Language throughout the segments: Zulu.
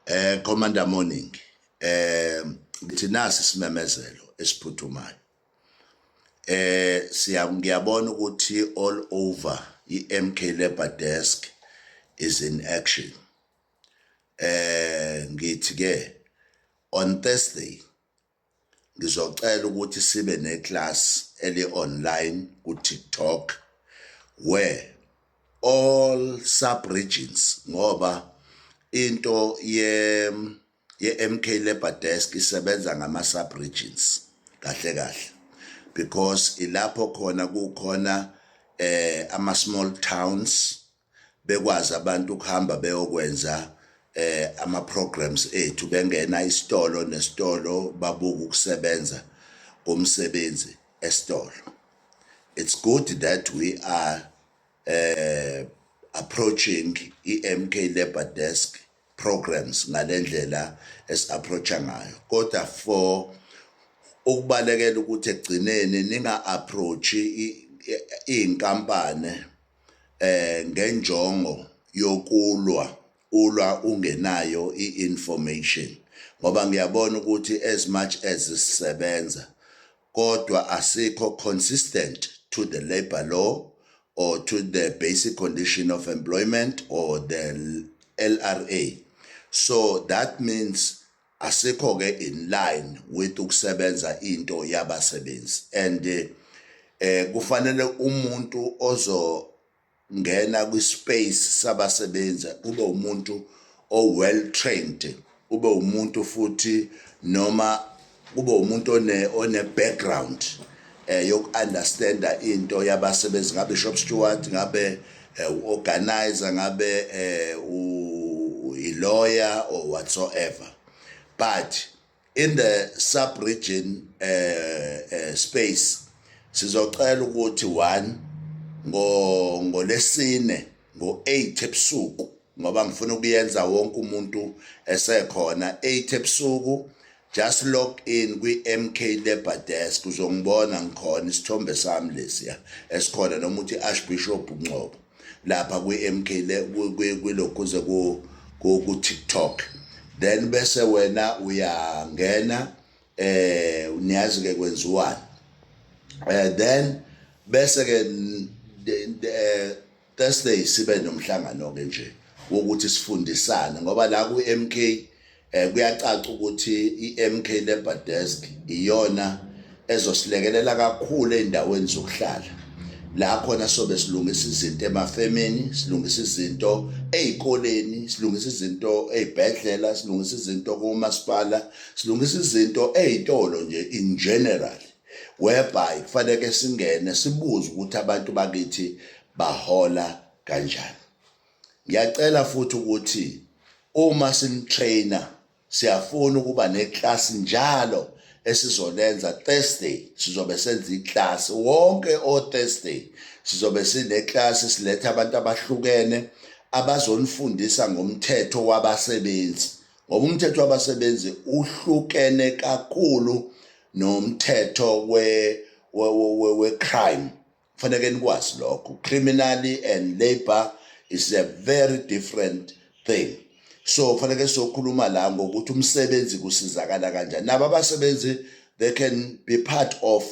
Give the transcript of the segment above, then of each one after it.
eh commander morning eh ngithi nasi simemezelo esiphuthumayo eh siya ngiyabona ukuthi all over iMK Labor Desk is in action eh ngithi ke on Thursday ngizocela ukuthi sibe neclass eli online ku TikTok where all sub regions ngoba into ye ye MK Labor Desk isebenza ngama sub regions kahle kahle because ilapho khona kukhona eh ama small towns bekwazi abantu ukuhamba beyokwenza eh ama programs ethu bengena isitolo nesitolo babuka ukusebenza komsebenzi esitolo it's good that we are eh approaching iMK labor desk programs ngalendlela esiapproacha ngayo kodwa for ukubalekela ukuthi egcineni ninga approach inkampani eh ngenjongo yokulwa ulwa ungenayo i-information ngoba ngiyabona ukuthi as much as sisebenza kodwa asikho consistent to the labor law or to the basic condition of employment or the LRA so that means asikho ke in line with ukusebenza into yabasebenzi and eh kufanele umuntu ozo ngena kwi space sabasebenzi kube umuntu o well trained ube umuntu futhi noma kube umuntu one one background eh yokuunderstanda into yabasebenzi ngabe shop steward ngabe eh, uorganizer ngabe eh u lawyer or whatsoever but in the sub region eh, eh space sizocela ukuthi one ngo ngolesine ngo-8 ebusuku ngoba ngifuna ukuyenza wonke umuntu esekhona 8 ebusuku just log in kwi-MK Labour Desk uzongibona ngikhona isithombe sami lesiya esikhona noma uthi Archbishop Ngcobo lapha kwi-MK kwilokhuze ku-TikTok then bese wena uyangena eh niyazi ke kwenziwani eh then bese ke eh, Thursday sibe nomhlangano ke nje wokuthi sifundisane ngoba la ku MK eh kuyacaca ukuthi iMK Labor Desk iyona ezosilekelela kakhulu endaweni zokuhlala la khona sobe silungisa izinto emafemini silungisa izinto ezikoleni silungisa izinto ezibhedlela silungisa izinto komasipala silungisa izinto ey'tolo nje in general whereby kufaneke singene sibuze ukuthi abantu bakithi bahola kanjani ngiyacela futhi ukuthi uma sinitraina siyafuna ukuba neclass njalo esizolenza Thursday sizobe senza iclass wonke o Thursday sizobe sineclass siletha abantu abahlukene abazonifundisa ngomthetho wabasebenzi ngoba umthetho wabasebenzi uhlukene kakhulu nomthetho we we we, we crime faneke nikwazi lokho criminally and labor is a very different thing so faneke sokhuluma la ngokuthi umsebenzi kusizakala kanjani nabo abasebenzi they can be part of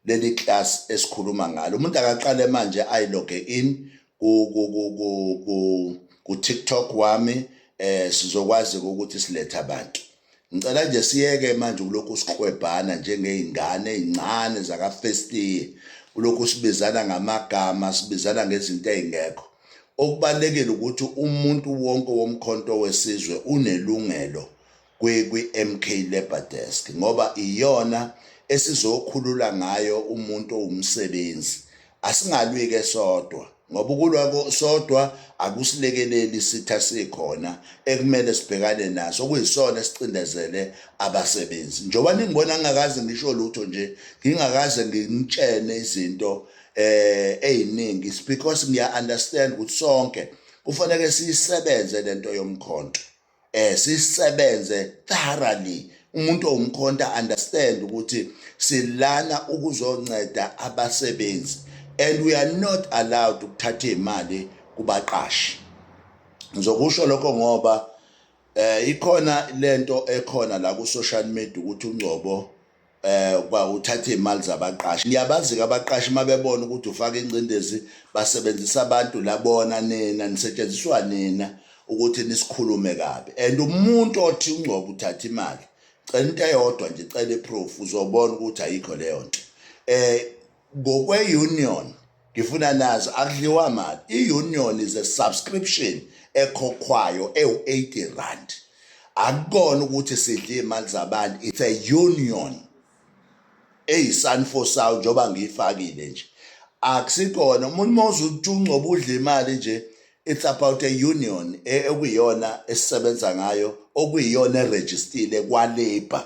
leli class esikhuluma ngalo umuntu akaqale manje i loge in ku ku ku ku ku, ku TikTok wami eh sizokwazi ukuthi silethe abantu ngicela nje siyeke manje kulokhu siqwebhana njengezingane ezincane zaka first year kulokhu sibizana ngamagama sibizana ngezinto ezingekho okubalekile ukuthi umuntu wonke womkhonto wesizwe unelungelo kwi-MK Labour Desk ngoba iyona esizokhulula ngayo umuntu owumsebenzi. Asingalwi-ke sodwa ngoba ukulwa sodwa akusilekeleli isitha sikhona ekumele sibhekane naso okuyisona esicindezele abasebenzi. Njengoba ningibona ngingakaze ngisho lutho nje, ngingakaze ngimtshene izinto eh eziningi it's because ngiya understand ukuthi sonke kufanele siyisebenze lento yomkhonto. eh sisebenze thoroughly umuntu owumkhonta understand ukuthi silana ukuzonceda abasebenzi and we are not allowed ukuthatha imali kubaqashi ngizokusho lokho ngoba eh ikhona lento ekhona la ku social media ukuthi ungcobo eh kwa uthatha imali zabaqashi liyabazi abaqashi mabebona ukuthi ufaka ingcindezi basebenzisa abantu labona nina nisetshenziswa nina ukuthi nisikhulume kabi and umuntu othi ungcobo uthatha imali cela into eyodwa nje cela iproof uzobona ukuthi ayikho leyo nto eh ngokwe-union ngifuna nazi akudliwa mali i-union is a subscription ekhokhwayo ewu-80 rand akukona ukuthi sidle imali zabantu it's a union eyisanfo sawo njengoba ngiyifakile nje akusikona umuntu uma uzutshungcoba udla imali nje It's about a union e, ekuyiyona esisebenza ngayo okuyiyona erejistile kwalabour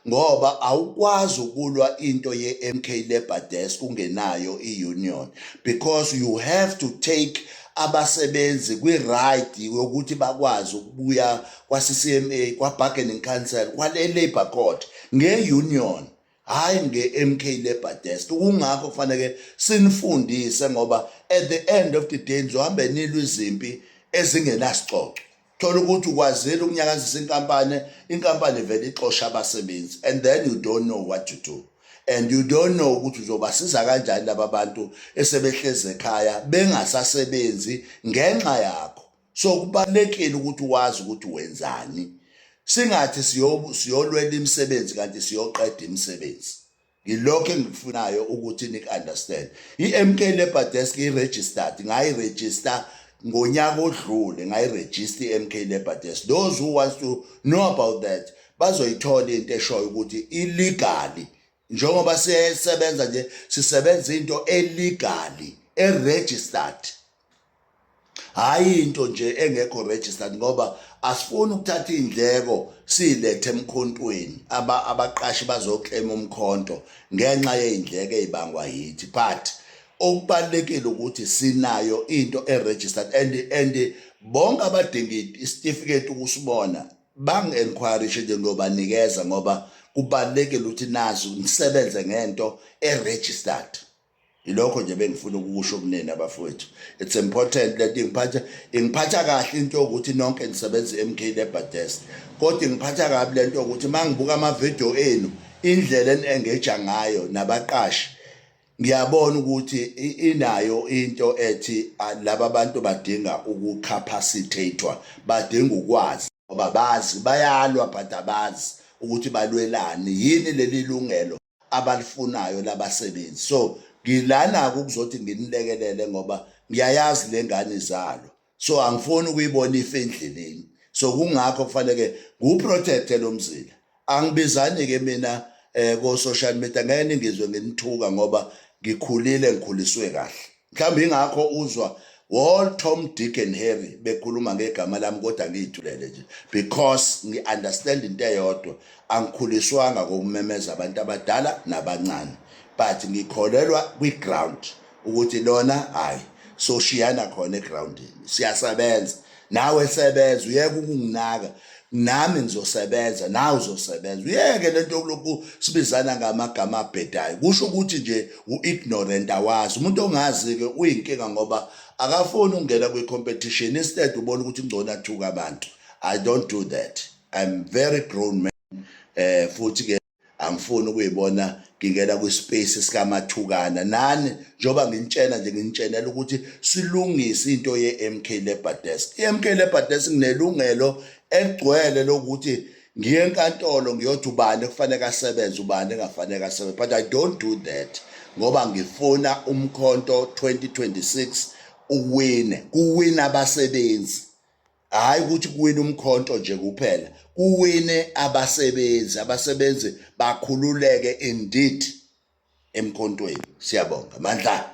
ngoba awukwazi ukulwa into ye-MK Labour Desk ungenayo i-union because you have to take abasebenzi kwi-right yokuthi bakwazi ukubuya kwa-CCMA kwa-bargaining council kwale-labour court nge-union hayi nge-mk labour desk kungakho kufaneke sinifundise ngoba at the end of the day nizohambe nilwa izimpi ezingenasicoco thola ukuthi ukwazile ukunyakazisa inkampani inkampani vele ixosha abasebenzi and then you don't know what to do and you don't know ukuthi uzobasiza kanjani laba bantu esebehleze ekhaya bengasasebenzi ngenxa yakho so kubalekile ukuthi wazi ukuthi wenzani singathi siyolwela imisebenzi kanti siyoqeda imisebenzi ngilokho engikufunayo ukuthi nik understand iMK Labor Desk iregistered ngayi register ngonyaka odlule ngayi register iMK Labor Desk those who wants to know about that bazoyithola into eshoyo ukuthi illegally njengoba sisebenza nje sisebenza into elegally eregistered hhayi into nje engekho registered ngoba asifuni ukuthatha iy'ndleko siyilethe emkhontweni abaqashi bazoklema umkhonto ngenxa yey'ndleko ey'bangwa yithi but okubalulekile ukuthi sinayo into eregistered and and bonke abadinga isitifiketi ukusibona bangi-enquirishe nje ngiyobanikeza ngoba kubalulekile ukuthi nazi ngisebenze ngento eregistered ilokho nje bengifuna ukusho kunina bafowethu it's important that ingiphatha ingiphatha kahle into yokuthi nonke nisebenza eMK Labour Desk kodwa ingiphatha kabi lento yokuthi mangibuka ama video enu indlela enengeja ngayo nabaqashi ngiyabona ukuthi inayo into ethi laba bantu badinga ukucapacitatewa badinga ukwazi ngoba bazi bayalwa but abazi ukuthi balwelani yini leli lungelo abalifunayo labasebenzi so ngilana ukuzothi nginilekelele ngoba ngiyayazi lengane izalo so angifuni ukuyibona ife endleleni so kungakho kufanele ngiwuprotect lo mzila angibizani ke mina eh ko social media ngeke ningizwe nginithuka ngoba ngikhulile ngikhuliswe kahle Mhlawumbe ingakho uzwa wall Tom Dick and Harry bekhuluma ngegama lami kodwa ngiyithulele nje because ngi-understand into eyodwa angikhuliswanga kokumemeza abantu abadala nabancane but ngikholelwa kwi-ground ukuthi lona hhayi soshiyana khona egroundini siyasebenza nawe sebenza uyeke ukunginaka nami ngizosebenza nawe uzosebenza uyeke lento yokulokhu sibizana ngamagama abhedayo kusho ukuthi nje u-ignorant awazi umuntu ongazi-ke uyinkinga ngoba akafuni ukungena kwi-competition instead ubona ukuthi kungcono athuka abantu i don't do that i'm very grown man um futhi-ke angifuni ukuyibona ngingena kwispace sikamathukana nani njengoba nginitshena nje nginitshenela ukuthi silungise into ye-MK Labour Desk i-MK Labour Desk nginelungelo egcwele lokuthi ngiye enkantolo ngiyothi ubani kufanele asebenze ubani engafanele asebenze but i don't do that ngoba ngifuna umkhonto 2026 uwine kuwina abasebenzi hayi ukuthi kuwina umkhonto nje kuphela kuwine abasebenzi abasebenzi bakhululeke indeed emkhontweni siyabonga mandla